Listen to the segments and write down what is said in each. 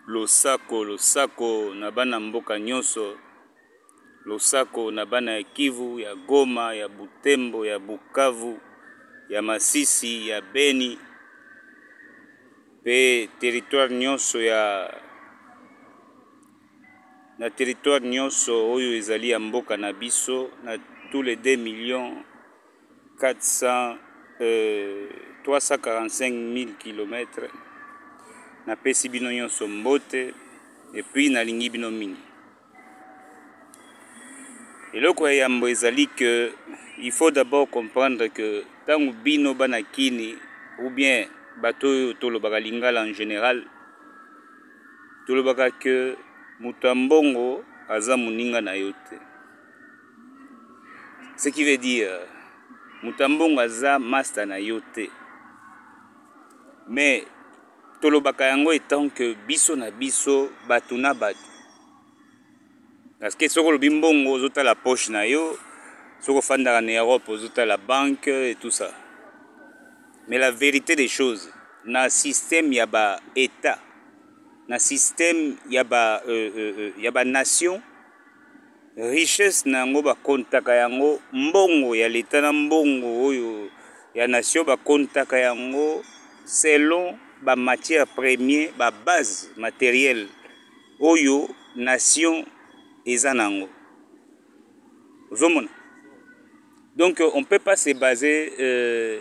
losako losako na bana mboka nyonso losako na bana ya kivu ya goma ya butembo ya bukavu ya masisi ya beni mpe territoire nyonso ya na territoire nyonso oyo ezali ya mboka na biso na tous les 2 millions 345000 kilomètre napesi bino nyonso mbote epuis nalingi bino mingi eloko ya yambo ezali ke il faut d'abord comprendre ke ntango bino bana kini ou bien bato oyo tolobaka lingala en général tolobaka ke moto ya mbongo aza moninga na yo te ce qui veut dire moto ya mbongo aza masta na yo te mais tolobaka yango etant que biso na biso bato na bato parce que soki olobi mbongo ozotala poche na yo soki ofandaka na europe ozotala banque et tout ça mais la vérité des choses na système ya ba état na système ya ba euh, euh, euh ya ba nation richesse na yango bakontaka yango mbongo ya leta na mbongo oyo ya nation bakontaka yango selon bamatière premier babase materiel oyo nation eza na yango ozomona donc on peut pas se baser euh,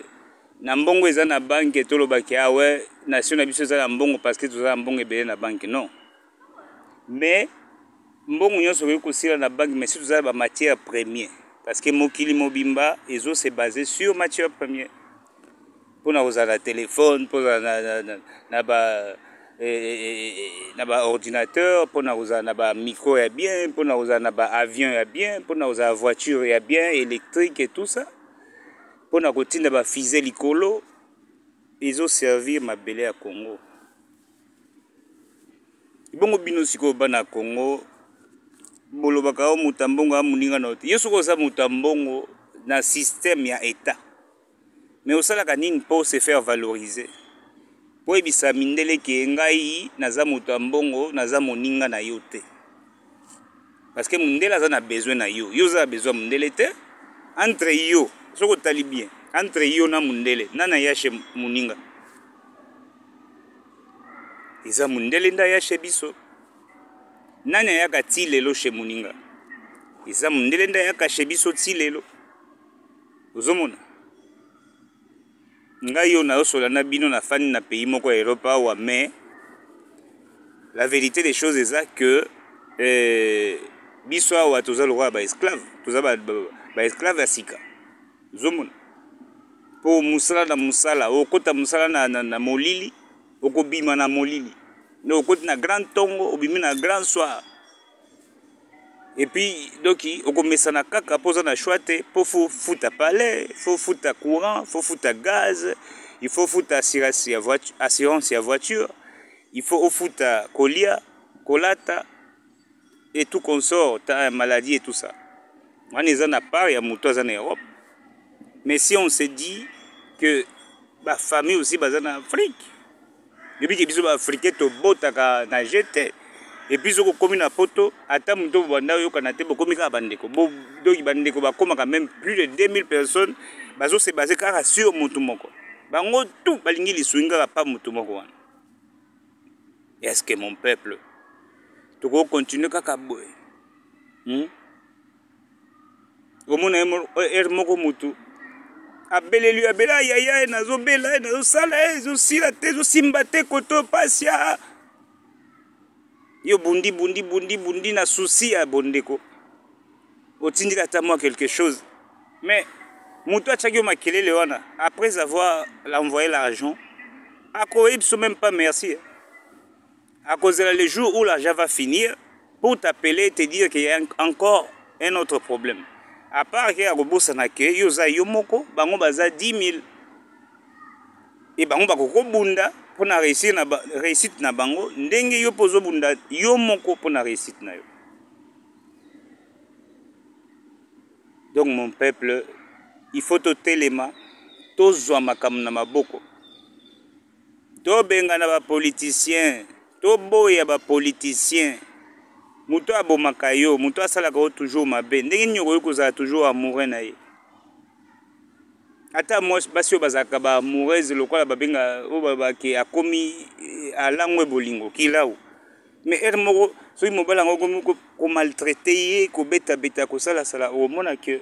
na mbongo eza na banke tolobaki awe ah nation na biso eza na mbongo parce que toza na mbongo ebele na banke non mais mbongo nyonso okoki kosila na banki mais si toza na bamatière premier parce que mokili mobimba ezo se base sur matière premier mpo na kozala na telefone mpo na, na, na, na, na ba eh, eh, eh, eh, na baordinateur mpo na kozala na bamicro ya bien mpo na kozala na baavion ya bien mpo na kozala voiture ya bien électrique et tout ça mpo na kotinda bafise likolo ezoservir mabele ya congo ebongo bino sikoyo bana ya congo bolobaka o oh, moto ya mbongo ya moninga na yo te yo soki oza moto ya mbongo na systeme ya etat mais osalaka nini mpo se faire valoriser mpo oyebisa mindele ke ngai naza moto ya mbongo naza moninga na yo te parce que mundele aza na besoin na yo yo oza na besoin ya mundele te entre yo soki otali bien entre yo na mundele nani ayashe moninga eza mundele nde ayashe biso nani ayaka ti lelo she moninga eza mundele nde ayaka she biso ti lelo ozomona ngai oyo nazosola na bino nafandi na pays moko ya europe awa mais la vérité des choses eza que eh, biso awa toza lokola baesclave toza baesclave ba, ba ya sika ozomona mpo mosala na mosala okota mosala na, na, na molili okobima na molili nde okoti na grand ntongo obimi na grand soir epuis doki okomesana kaka mpo oza na choix te mpo fo futa palais fo futa courant fo futa gaz il faut futa assurance ya voiture, assurance ya voiture il faut ofuta kolia kolata et tout consort ta maladie et tout ça wana eza na part ya moto aza na europe mais si on se dit que bafamille aussi baza na afrique oyebi ke biso baafricain tobotaka na je te epuis soki okomi na poto ata moto bobanda oyokana te bokomi kaka bandeko donki bandeko bakomaka meme plus de 2000 personnes bazose base kaka sur motu moko bango tout balingi lisungi kaka pa motu moko wana est ce que mon peuple tokoki continuer kaka boye hmm? omona ye heure moko mutu abeleli yo abela yaya ye nazobela ye nazosala ye ezosila te ezosimba te koto pasi a yo bundi bundi bundi bundi na susi ya bondeko otindika ata mwa quelque chose mais moto atyaki yo makelele wana après avoir l'envoye l'argent akoyebiso même pas merci Akozela le jour où l'argent va finir pour t'appeler et te dire qu'il y a encore un autre problème. À part que akobosana que yo oza yo moko, bango baza 10 000 et bango bakoko bunda pour na réussir na ba, réussite na bango ndenge yo pozo bunda yo moko pour na réussite na yo. Donc mon peuple, il faut totelema, tozwa makambo na maboko. To bengana ba politiciens. To boya ba politiciens. Moto oyo abomaka yo, moto oyo asalaka yo toujours mabe, ndenge nini okoki kozala toujours amoureux na ye? Ata mwasi basi oyo bazalaka ba amoureuse lokola babenga oyo babaki akomi eh, alangwe bolingo kilau me heure moko soki mobali yango okomi komaltraite ye kobetabeta kosalasala okomona ke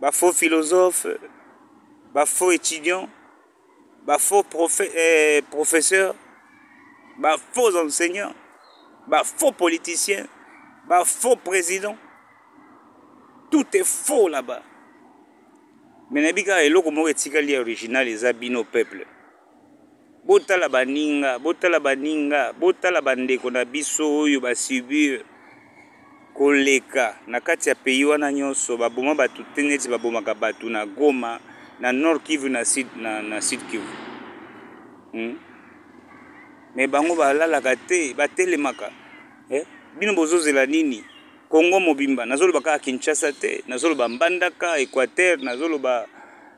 ba faux philosophe ba faux étudiant ba faux profe, eh, professeur ba faux enseignant ba faux politicien ba faux président tout est faux là-bas me nayebi kaka eloko moko etikali ya original eza bino peuple botala baninga botala baninga botala bandeko na biso oyo basubir koleka na kati ya pays wana nyonso baboma bato te neti babomaka bato na goma na nord kivu na sud, na, na sud kivu hmm? me bango balalaka te batelemaka eh? bino bozozela nini kongo mobimba nazoloba kaka kinshasa te nazoloba mbandaka equateur nazoloba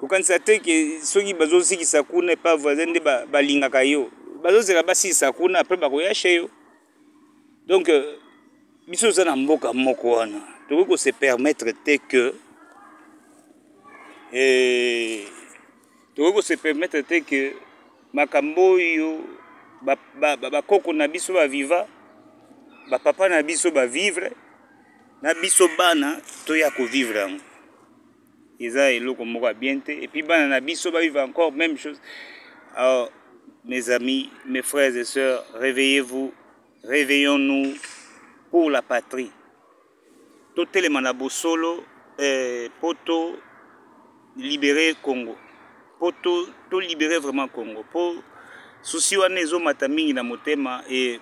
kokanisa te ke soki bazozikisa kuna epa voisin nde balingaka yo bazozela basilisa kuna apres bakoyashe yo donc euh, biso toza na mboka moko wana tokoki kose permettre te ke eh, tokoki kose permettre te ke makambo oyo bakoko na biso baviva bapapa na biso bavivre na biso bana toya kovivre yango eza eloko moko ya bien te epuis bana na biso bavive encore même chose alors mes amis mes frères et sœurs réveillez vous réveillons nous pour la patrie totelema na bosolo eh, mpo to libere congo mpo to, to libere vraiment congo mpo susi wana ezomata mingi na motema e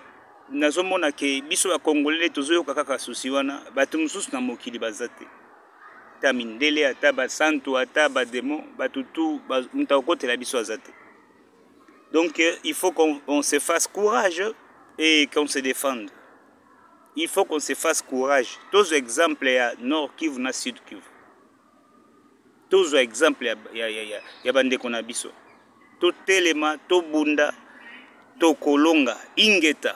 nazomona ke biso bakongolele tozoyoka kaka susi wana bato mosusu na mokili baza te ata mindele ata basantu ata bademo bato tu moto akokotela biso aza te donc euh, il faut qu'on on se fasse courage et qu'on se défende il faut qu'on se fasse courage tozwa exemple ya nord kivu na sud kivu tozwa exemple ya, ya, ya, ya, ya bandeko na biso totelema tobunda tokolonga ingeta